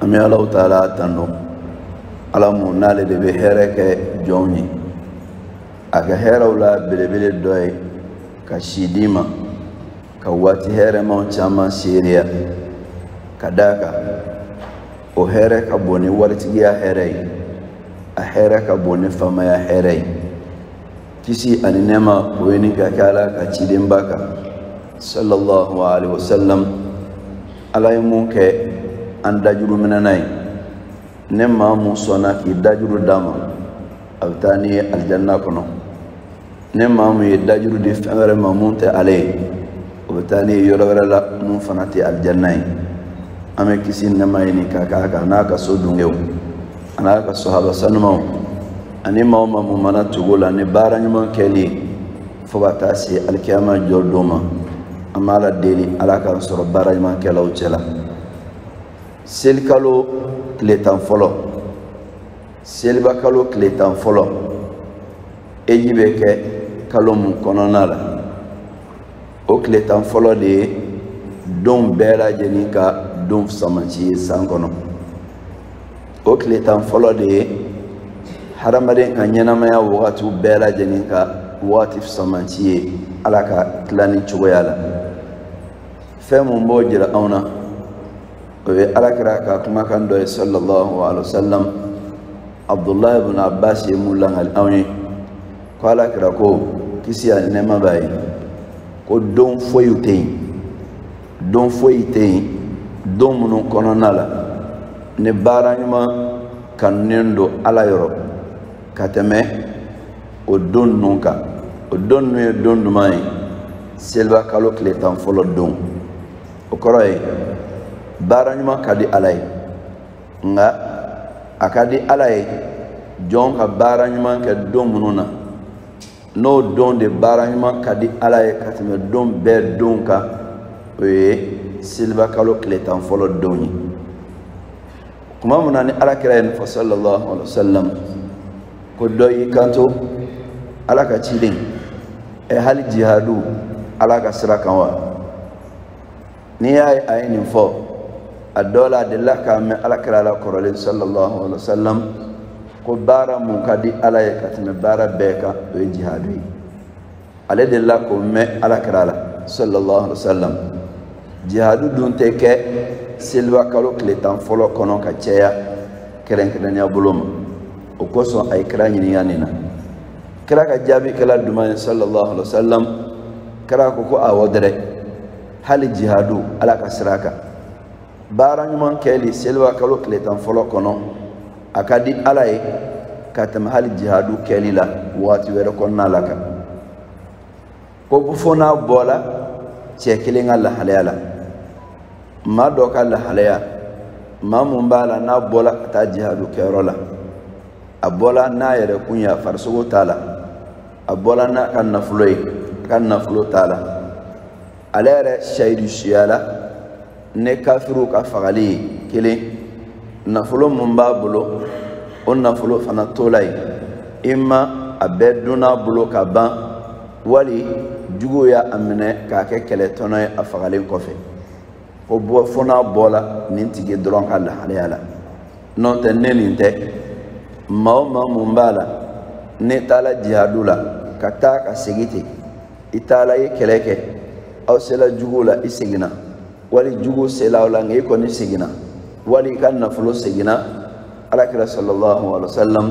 an bɛ allahu taala tandu ala mun n'ale de bɛ hɛrɛ kɛ jɔnw ye a ka hɛrɛw la belebele dɔ ye ka si d'i ma ka waati hɛrɛmaw caman seereya ka d'a kan o hɛrɛ ka bon ni waritigiya hɛrɛ ye a hɛrɛ ka bon ni faamaya hɛrɛ ye kisi ani nɛɛma o ɲini ka kɛ ala ka cidenba kan sallallahu alaihi wasallam ala ye mun kɛ an dajuru minɛna ye ni maa mun sɔnna k'i dajuru d'a ma a bɛ taa n'i ye alijanna kɔnɔ ni maa mun ye dajuru di fɛn wɛrɛ ma mun tɛ ale ye o bɛ taa n'i ye yɔrɔ wɛrɛ la mun fana tɛ alijanna ye an bɛ kisi ni nɛɛma ɲini ka k'a kan n'a ka so dungew a n'a ka sahaba sanumaw ani maa o maa mun mana tugu o la ni baara ɲuman kɛli ye fo ka taa se alikiyama jɔ don ma an b'ala deli ala k'an sɔrɔ baara ɲuman kɛlaw cɛ la selikalo tile tan fɔlɔ selibakalo tile tan fɔlɔ eji bɛ kɛ kalo mun kɔnɔna la o tile tan fɔlɔ de ye don bɛɛ lajɛlen ka don fisamanci ye san kɔnɔ o tile tan fɔlɔ de ye hadamaden ka ɲɛnamaya wagatiw bɛɛ lajɛlen ka wagati fisamanci ye ala ka tilanni cogoya la fɛn mun b'o jira anw na o ye alakira ka kumakan dɔ ye sallallahu alaihi wa sallam abdullahi ibn abbas ye mun langali anw ye ko alakira ko kisi ani nɛɛma b'a ye ko don foyiw tɛ yen don foyi tɛ yen don minnu kɔnɔna la ni baara ɲuman kanunen don ala yɔrɔ ka tɛmɛ o don ninnu kan o don ninnu ye don juman ye seliba kalo tile tan fɔlɔ don o kɔrɔ ye baara ɲuman ka di ala ye nka a ka di ala ye jɔn ka baara ɲuman kɛ don minnu na n'o don de baara ɲuman ka di ala ye ka tɛmɛ don bɛɛ don kan o ye seliba kalo tile tan fɔlɔ don ye tuma min na ni ala kira ye nin fɔ sallallahu alaihi wa sallam ko dɔ y'i kanto ala ka ciden ɛ hali jihadu ala ka sira kan wa n'i y'a ye a ye nin fɔ a dɔ la a delila k'a mɛn alakira la kɔrɔlen sallallahu alaihi wa sallam ko baara mun ka di ala ye ka tɛmɛ baara bɛɛ kan o ye jihadu ye ale delila k'o mɛn alakira la sallallahu alaihi wa sallam jihadu dun tɛ kɛ seliba kalo tile tan fɔlɔ kɔnɔ ka caya kɛrɛnkɛrɛnnenya bolo ma o kosɔn a ye kira ɲininka nin na kira ka jaabi kɛla juman ye sallallahu alaihi wa sallam kira ko ko awɔ dɛrɛ hali jihadu ala ka sira kan baara ɲuman kɛli seliba kalo tile tan fɔlɔ kɔnɔ a ka di ala ye ka tɛmɛ hali jihadu kɛli la waati wɛrɛ kɔnɔna la kan ko fo n'a bɔla cɛ kelen ka lahalaya la maa dɔ ka lahalaya maa mun b'a la n'a bɔla ka taa jihadu kɛyɔrɔ la a bɔla n'a yɛrɛ kun ye a farisogo taala a bɔla n'a ka nafolo ye a ka nafolo taala ale yɛrɛ sahidu suyala ni kafiriw ka fagali ye kelen nafolo mun b'a bolo o nafolo fana tola yen imma a bɛɛ donna bolo ka ban wali juguw y'a minɛ k'a kɛ kɛlɛtɔnɔ ye a fagalen kɔfɛ ko bɔ fo n'a bɔla nin tigi dɔrɔn ka lahalaya la n'o tɛ ni nin tɛ maa o maa mun b'a la n'e taala jihadu la ka taa ka segin ten i taala i ye kɛlɛ kɛ aw sela juguw la i seginna wali juguw sela aw la nka i kɔni seginna wali i ka nafolo seginna alakira sallallahu alaihi wa sallam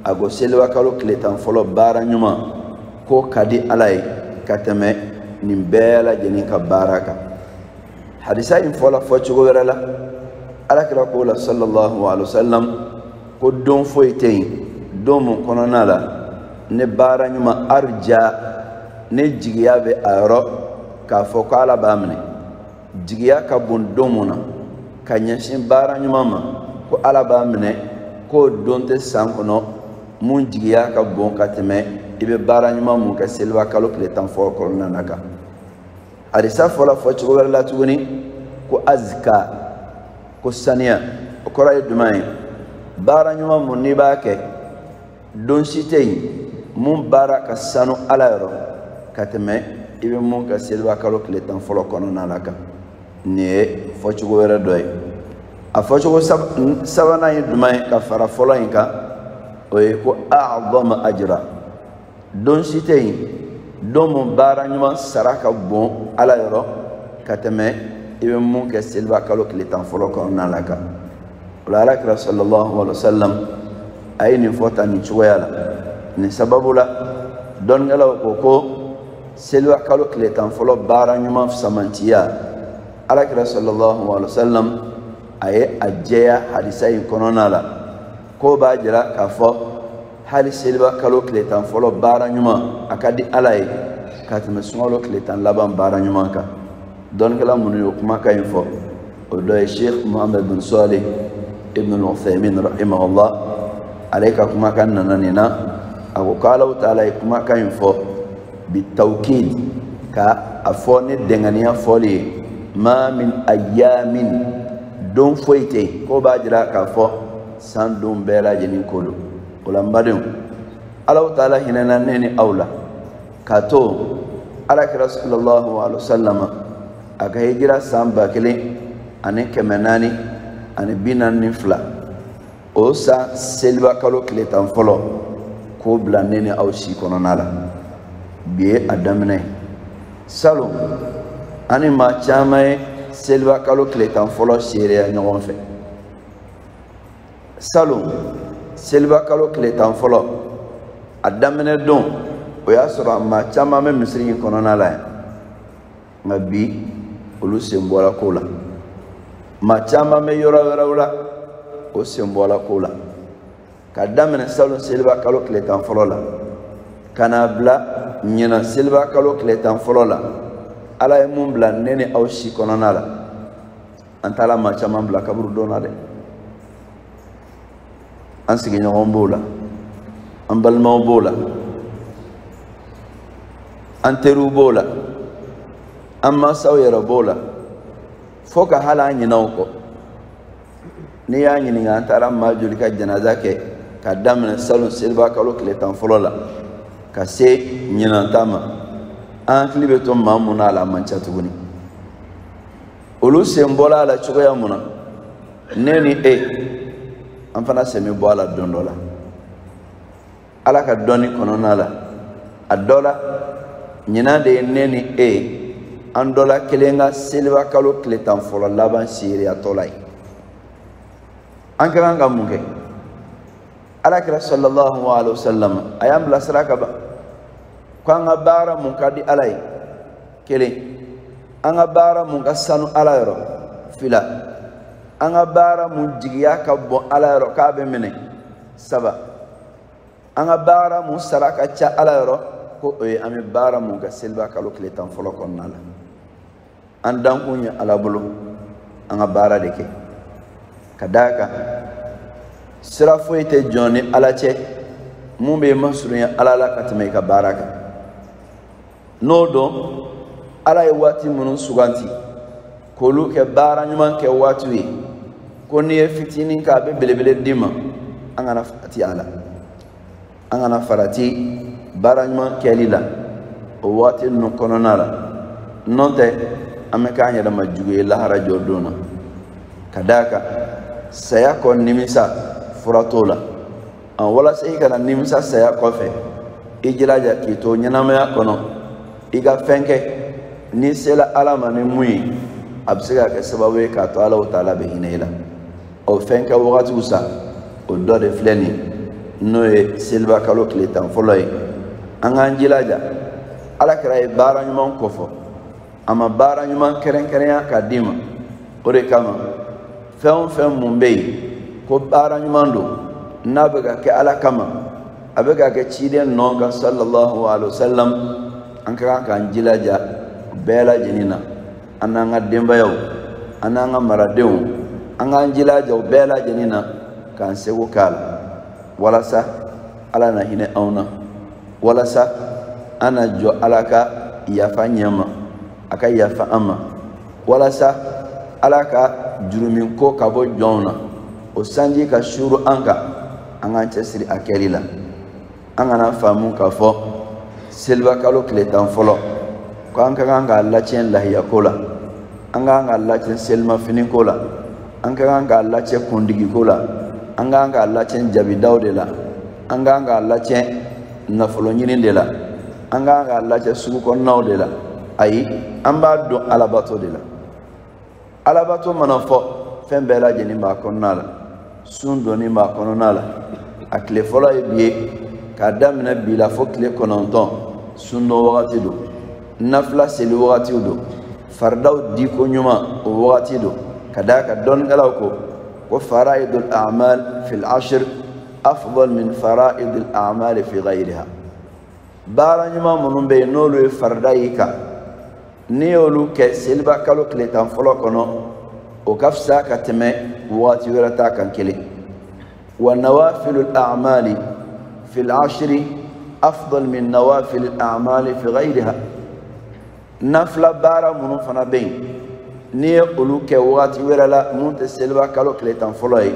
a ko seliba kalo tile tan fɔlɔ baara ɲuman k'o ka di ala ye ka tɛmɛ nin bɛɛ lajɛlen ka baara kan hadisa in fɔla fɔ cogo wɛrɛ la alakira ko la sallallahu alaihi wa sallam ko don foyi tɛ yen don mun kɔnɔna la ne baara ɲuman arja ne jigiya bɛ a yɔrɔ k'a fɔ ko ala b'a minɛ jigiya ka bon don mun na ka ɲɛsin baara ɲuman ma ko ala b'a minɛ k'o don tɛ san kɔnɔ mun jigiya ka bon ka tɛmɛ i bɛ baara ɲuman mun kɛ seliba kalo tile tan fɔ kɔnɔna na kan hadisa fɔla fɔ cogo wɛrɛ la tuguni ko azka ko saniya o kɔrɔ ye juman ye baara ɲuman mun n'i b'a kɛ don si tɛ yen mun baara ka sanu ala yɔrɔ ka tɛmɛ i bɛ mun kɛ seliba kalo tile tan fɔlɔ kɔnɔna la kan nin ye fɔcogo wɛrɛ dɔ ye a fɔcogo sabanan ye juman ye ka fara fɔlɔ in kan o ye ko a'dama ajra don si tɛ yen don mun baara ɲuman sara ka bon ala yɔrɔ ka tɛmɛ i bɛ mun kɛ seliba kalo tile tan fɔlɔ kɔnɔna la kan o la alakira sallallahu alaihi wa sallam a ye nin fɔ tan nin cogoya la nin sababu la dɔnnikɛlaw ko ko seliba kalo tile tan fɔlɔ baara ɲuman samantiya alakira sallallahu alaihi wa sallam a ye a jɛya hadisa in kɔnɔna la k'o b'a jira k'a fɔ hali seliba kalo tile tan fɔlɔ baara ɲuman a ka di ala ye ka tɛmɛ sunkalo tile tan laban baara ɲuman kan dɔnnikɛla minnu y'o kumakan in fɔ o dɔ ye sheikh muhammad bin salih ibn al-uthaymin rahimahullah ale ka kumakan nana nin na a ko k'allahu taala ye kumakan in fɔ bi tawkid ka a fɔ ni dɛnganiya fɔli ye ma min ayamin don foyi tɛ k'o b'a jira k'a fɔ san don bɛɛ lajɛlen ko don o la n badenw allahu taala hinɛna ne ni aw la k'a to ala kira sallallahu alaihi wasallam a ka hijira san ba kelen ani kɛmɛ naani ani bi naani ni fila o san seliba kalo tile tan fɔlɔ k'o bila ne ni aw si kɔnɔna la bi ye a daminɛ salon an ni maa caman ye seliba kalo tile tan fɔlɔ seereya ɲɔgɔn fɛ salon seliba kalo tile tan fɔlɔ a daminɛ don o y'a sɔrɔ maa caman bɛ misiri in kɔnɔna la yan nka bi olu sen bɔla ko la maa caman bɛ yɔrɔ wɛrɛw la o sen bɔla ko la ka daminɛ salon seliba kalo tile tan fɔlɔ la ka n'a bila ɲinan seliba kalo tile tan fɔlɔ la ala ye mun bila ne ni aw si kɔnɔna la an taala maa caman bila kaburudo na dɛ an sigiɲɔgɔn b'o la an balimaw b'o la an teriw b'o la an mansaw yɛrɛ b'o la fo ka hali an ɲina u kɔ n'i y'a ɲininka an taara maa joli ka janaza kɛ ka daminɛ salon seliba kalo tile tan fɔlɔ la ka se ɲinan ta ma an hakili bɛ to maa mun na a la a man ca tuguni olu sen bɔla a la cogoya mun na ne ni e an fana sen bɛ bɔ a la don dɔ la ala ka dɔnni kɔnɔna la a dɔ la ɲinan de ye ne ni e an dɔ la kelen ka seliba kalo tile tan fɔlɔ laban seereyatɔ la ye an ka kan ka mun kɛ ala kira sallallahu alaihi wa sallam a y'an bilasira ka ban ko an ka baara mun ka di ala ye kelen an ka baara mun ka sanu ala yɔrɔ fila an ka baara mun jigiya ka bon ala yɔrɔ k'a bɛ minɛ saba an ka baara mun sara ka ca ala yɔrɔ ko o ye an bɛ baara mun kɛ seliba kalo tile tan fɔlɔ kɔnɔna la an dankun ye ala bolo an ka baara de kɛ ka d'a kan sira foyi tɛ jɔn ni ala cɛ mun b'i masurunya ala la ka tɛmɛ i ka baara kan n'o don ala ye waati minnu suganti k'olu kɛ baara ɲuman kɛ waatiw ye ko n'i ye fitinin k'a bɛ belebele d'i ma an kana farati a la an kana farati baara ɲuman kɛli la o waati ninnu kɔnɔna la n'o tɛ an bɛ k'an yɛrɛ ma jugu ye lahara jɔ don na ka d'a kan saya kɔ nimisa fura t'o la walasa i kana nimisa saya kɔfɛ i jilaja k'i to ɲɛnamaya kɔnɔ i ka fɛn kɛ n'i sela ala ma ni mun ye a bɛ se ka kɛ sababu ye k'a to alahu taala bɛ hinɛ i la o fɛn kɛ wagatiw sa o dɔ de filɛ nin n'o ye seliba kalo tile tan fɔlɔ ye an k'an jilaja ala kira ye baara ɲuman kofɔ a ma baara ɲuman kɛrɛnkɛrɛnya ka d'i ma o de kama fɛn o fɛn mun bɛ yen ko baara ɲuman don n'a bɛ ka kɛ ala kama a bɛ ka kɛ ciden nɔ kan sallallahu alaihi wa sallam an ka kan k'an jilaja bɛɛ lajɛlen na an n'an ka denbayaw an n'an ka maradenw an k'an jilaja o bɛɛ lajɛlen na k'an seko k'a la walasa ala na hinɛ anw na walasa an na jɔ ala ka yafa ɲɛ ma a ka yafa an ma walasa ala ka jurumun ko ka bɔ jɔnw na o sanji ka suru an kan an k'an cɛsiri a kɛli la an kana faamu k'a fɔ selibakalo tile tan fɔlɔ ko an ka kan k'a lacɛn lahiya ko la an ka kan k'a lacɛn selimafini ko la an ka kan k'a lacɛn kundigi ko la an ka kan k'a lacɛn jabidaw de la an ka kan k'a lacɛn nafolo ɲini de la an ka kan k'a lacɛn sugu kɔnɔnaw de la ayi an b'a don alabato de la alabato mana fɔ fɛn bɛɛ lajɛlen b'a kɔnɔna la sun donni b'a kɔnɔna la a tile fɔlɔ ye bi ye k'a daminɛ bi la fo tile kɔnɔntɔn sun don wagati don nafila seli wagatiw don faridaw diko ɲuman o wagati don ka d'a kan dɔnnikɛlaw ko ko faraidul amal fil ashir afdal min faraidul amal fi ghayriha baara ɲuman minnu bɛ yen n'olu ye farida y'i kan n'i y'olu kɛ seliba kalo tile tan fɔlɔ kɔnɔ o ka fisa ka tɛmɛ waati wɛrɛ ta kan kelen wa nawafilul amali fil ashiri afdal min nawafilil amali fi ghayriha nafila baara minnu fana bɛ yen n'i ye olu kɛ wagati wɛrɛ la mun tɛ seliba kalo tile tan fɔlɔ ye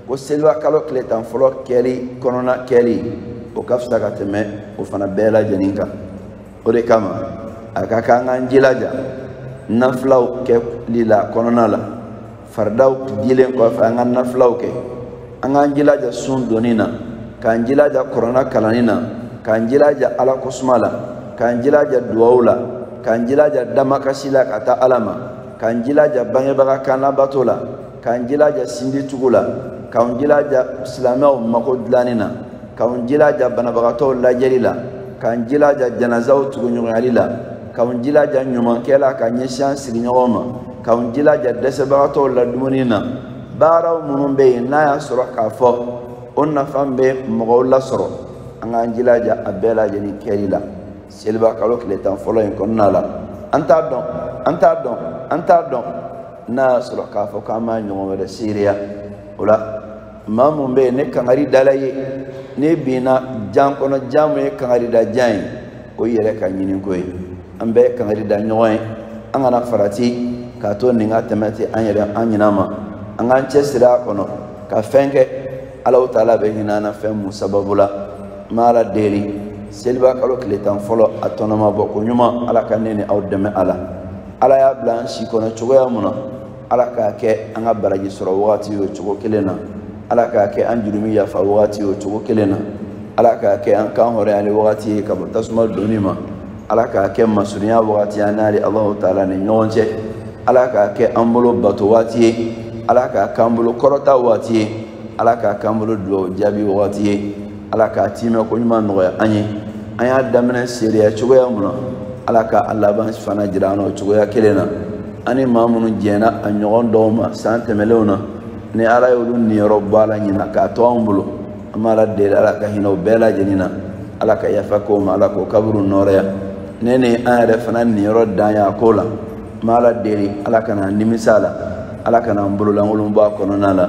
ko seliba kalo tile tan fɔlɔ kɛli kɔnɔna kɛli o ka fisa ka tɛmɛ o fana bɛɛ lajɛlen kan o de kama a ka kan k'an jilaja nafilaw kɛli la kɔnɔna la faridaw dilen kɔfɛ an ka nafilaw kɛ an k'an jilaja sun donni na k'an jilaja kɔrɔna kalanni na k'an jilaja ala kosuma la k'an jilaja duwawu la k'an jilaja damakasi la ka taa ala ma k'an jilaja bangebaga kan labato la k'an jilaja sinji tugu la k'an jilaja silamɛw mako dilanni na k'an jilaja banabagatɔw lajɛli la k'an jilaja janazaw tuguɲɔgɔnyali la k'anw jilaja ɲumankɛ la ka ɲɛsin an sigiɲɔgɔn ma k'anw jilaja dɛsɛbagatɔw ladumuni na baaraw minnu bɛ yen n'a y'a sɔrɔ k'a fɔ o nafa bɛ mɔgɔw lasɔrɔ an k'an jilaja a bɛɛ lajɛlen kɛli la seliba kalo tile tan fɔlɔ in kɔnɔna la an t'a dɔn an t'a dɔn an t'a dɔn n'a y'a sɔrɔ k'a fɔ k'an b'a ɲɔgɔn wɛrɛ seereya o la maa mun bɛ yen ni kangari dala i ye n'i binna jan kɔnɔ jan mun ye kangari da jan ye o y'i yɛrɛ ka ɲini ko ye an bɛ kangari da ɲɔgɔn ye an kana farati k'a to nin ka tɛmɛ tɛ an yɛrɛ an ɲinɛ ma an k'an cɛsiri a kɔnɔ ka fɛn kɛ alahu taala bɛ hinɛ an na fɛn mun sababu la n bɛ ala deli seliba kalo tile tan fɔlɔ a tɔnɔmabɔ koɲuman ala ka ne ni aw dɛmɛ a la ala y'a bila an si kɔnɔ cogoya mun na ala k'a kɛ an ka baraji sɔrɔ wagati y'o cogo kelen na ala k'a kɛ an jurumi yafa wagati y'o cogo kelen na ala k'a kɛ an kan hɔrɔnyali wagati ye ka bɔ tasuma donni ma ala k'a kɛ masurunya wagati an n'ale alahu taala ni ɲɔgɔn cɛ ala k'a kɛ an bolo bato waati ye ala k'a k'an bolo kɔrɔta waati ye ala k'a k'an bolo dugawu jaabi wagati ye ala k'a tiimɛ koɲuman nɔgɔya an ye an y'a daminɛ seereya cogoya mun na ala ka a laban fana jira an na o cogoya kelen na an ni maa minnu jɛnna a ɲɔgɔn dɔw ma san tɛmɛlenw na ni ala y'olu niyɔrɔ bɔ a la ɲinan k'a to anw bolo an b'ala deli ala ka hinɛ o bɛɛ lajɛlen na ala ka yafa k'o ma ala k'o kaburu nɔɔrɔya ne ni an yɛrɛ fana niyɔrɔ dan y'a ko la n b'ala deli ala kana an nimisa a la ala kana an bololankolon bɔ a kɔnɔna la